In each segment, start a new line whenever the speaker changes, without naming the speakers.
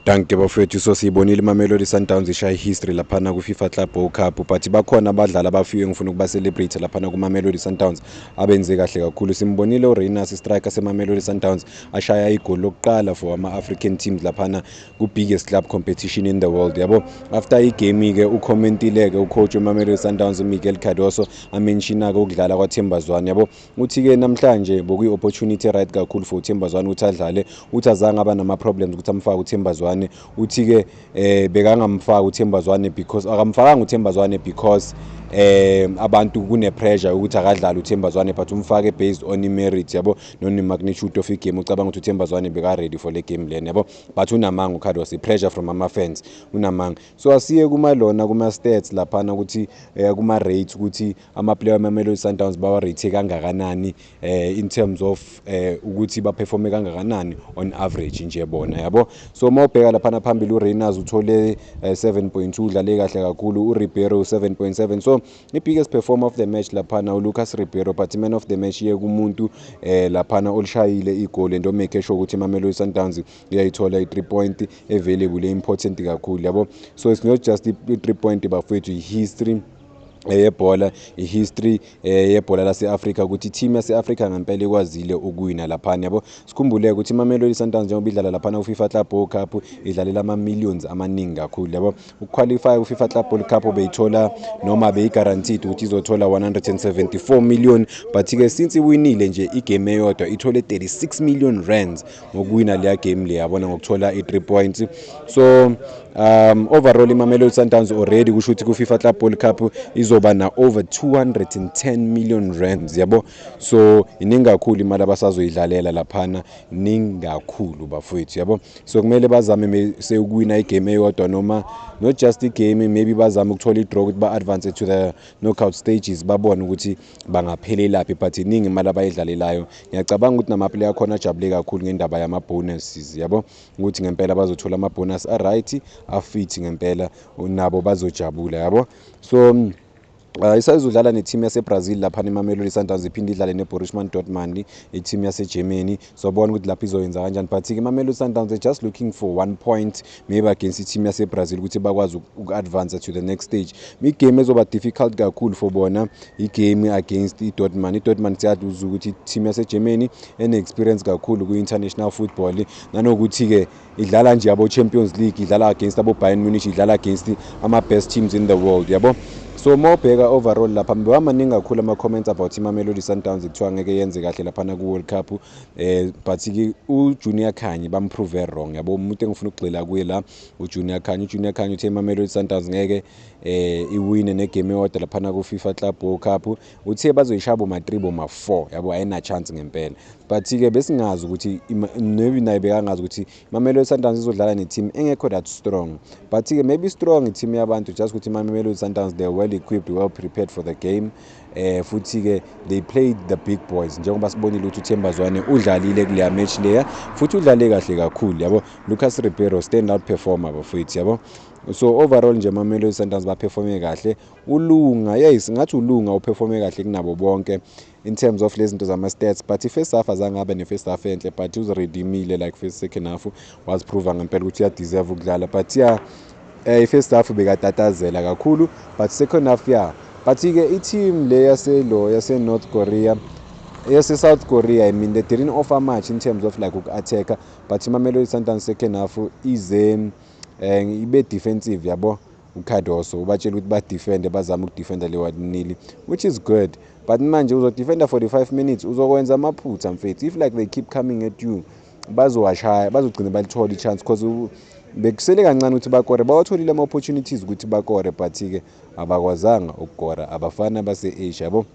Dankie bafowethu so siyibonile iMamelodi Sundowns ishaya ihistory laphana kwiFifa Club World Cup but bakhona abadlali abafiwe engifuna ukuba celebrate laphana kuMamelodi Sundowns abenze kahle kakhulu simbonile uReyners istriker seMamelodi Sundowns ashaya igoli lokuqala for ama African teams laphana ku biggest club competition in the world yabo after igame ke ucommentile ke ucoach weMamelodi Sundowns uMiguel Cardoso amenshina ke ukudlala kwaThemba Zwane yabo Uthi ke namhlanje bokuyi opportunity right kakhulu for uThemba Zwane ukuthi adlale. Uthi azange aba nama problems ukuthi amfake uThemba Zwane. Uthi ke eh bekangamfaka uThemba Zwane because akamfakanga uThemba Zwane because eh abantu kune pressure ukuthi akadlale uThemba Zwane but umfake based on i merit yabo no ne magnitude of i game ucabanga ukuthi uThemba Zwane beka ready for le game lena yabo but unamanga uCarlos i pressure from ama fans unamanga so asiye kuma lona kuma stats laphana ukuthi eh, kuma rates ukuthi amaplayer wemamelodi sundowns bawarate kangakanani eh, in terms of eh, ukuthi baperforme kangakanani on average nje bona yabo so uma ubheka laphana phambili urainers uthole eh, 7.2 udlale kahle kakhulu uribeiro 7.7 so i-biggest performer of the match laphana ulucas ribeiro but man of the match iye kumuntu eh, laphana olishayile igoli and omake sure ukuthi imamelodi sundowns iyayithola i-three point available e-important kakhulu yabo so it's not just i-three point bafowethu i-history Eh, yebhola i-history eh, yebhola lase-afrika ukuthi i-team yase-afrika ngempela ikwazile ukuwina laphana yabo sikhumbule ukuthi imamelodi sundowns njengoba idlala laphana kufifa club ball cup idlalela ama-millions amaningi kakhulu yabo ukuqualifya kufifa club ball cup beyithola noma beyi-guaranteed ukuthi izothola 174 million but-ke since iwinile nje igame eyodwa ithole 36 million rands ngokuwina leya game le yabona ngokuthola i-three points so um overall imamelodi sundowns already kusho ukuthi ku-fifa club ball cup izoba na-over 210 million rands yabo so iningi kakhulu imali abasazoyidlalela laphana iningi kakhulu bafowethu yabo so kumele bazame sewukuwina igame eyodwa noma not just igame maybe bazame ukuthola i-draw ukuthi ba-advance to the knockout stages babone ukuthi bangaphelelaphi but iningi imali abayidlalelayo ngiyacabanga ukuthi namaplayer akhona ajabule kakhulu ngendaba yama-bonuses yabo ukuthi ngempela bazothola ama-bonus a-right afit ngempela nabo bazojabula yabo so mm, Uh, isayizodlala nethimu yasebrazil laphana imamelodi sundowns iphinde idlale neborish man dortmund ithimu yasegermany sobona ukuthi lapho izoyenza kanjani but-ke imamelodi sundowns they're just looking for one point maybe against i-team yasebrazil ukuthi bakwazi uku-advansa to the next stage igame ezoba difficult kakhulu for bona igame against idortman idortman siyazi ukuthi i-team yasegermany ene-experience kakhulu kwi-international football nanokuthi-ke idlala nje abo Champions League idlala against abo Bayern Munich idlala against ama best teams in the world yabo so uma ubheka overall lapha mbewa maningi kakhulu ama comments about iMamelodi Sundowns kuthiwa ngeke yenze kahle lapha na ku World Cup eh but ke u Junior Khanyi bamprove wrong yabo umuntu engifuna ukugxila kuye la u Junior Khanyi u Junior Khanyi uthe iMamelodi Sundowns ngeke eh iwine ne game eyodwa lapha na ku FIFA Club World Cup uthe bazoyishaya boma 3 boma 4 yabo ayina chance ngempela but ke besingazi ukuthi maybe naye bekangazi ukuthi Mamelodi Sundowns izodlala ne team engekho that strong but ke maybe strong team yabantu just ukuthi Mamelodi Sundowns they are well equipped well prepared for the game eh futhi ke they played the big boys njengoba sibonile ukuthi uThemba Zwane udlalile kuleya match leya futhi udlale kahle kakhulu yabo Lucas Ribeiro stand out performer bafethu yabo so overall nje Mamelodi Sundowns ba performe kahle Ulunga yey singathi ulunga uperforme kahle kunabo bonke in terms of lezinto zama stats but i first half azange abe ne first half enhle but uzi redeemile like first second half was prove ngempela ukuthi ya deserve ukudlala but yeah eh i first half bekatatazela kakhulu but second half yeah but ke i team le yase lo yase North Korea yase South Korea i mean they didn't offer much in terms of like uku attacker but iMamelodi Sundowns second half ize eh ibe defensive yabo uCardoso ubatshela ukuthi badefende bazame ukudefenda le one nil which is good but manje uzodefenda 45 minutes uzokwenza amaphutha mfethu if like they keep coming at you bazowashaya bazogcina balithole ichance because bekusele kancane ukuthi bakore bawatholile ama-opportunities ukuthi bakore but-ke abakwazanga ukukora abafana base-asia yabo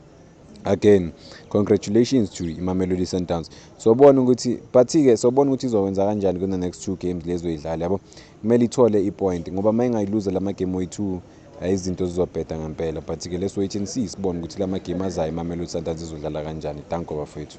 again congratulations to imamelodi sundowns sobona ukuthi but-ke sobona ukuthi izowenza kanjani kuna-next two games lezoyidlala yabo Kumele ithole ipoint ngoba uma ingayiluza la magemu oyi-two eh, izinto zizobheda ngempela but ke let's wait and see sibone ukuthi la magemu azayo imamelodi sundowns izodlala kanjani danko bafethu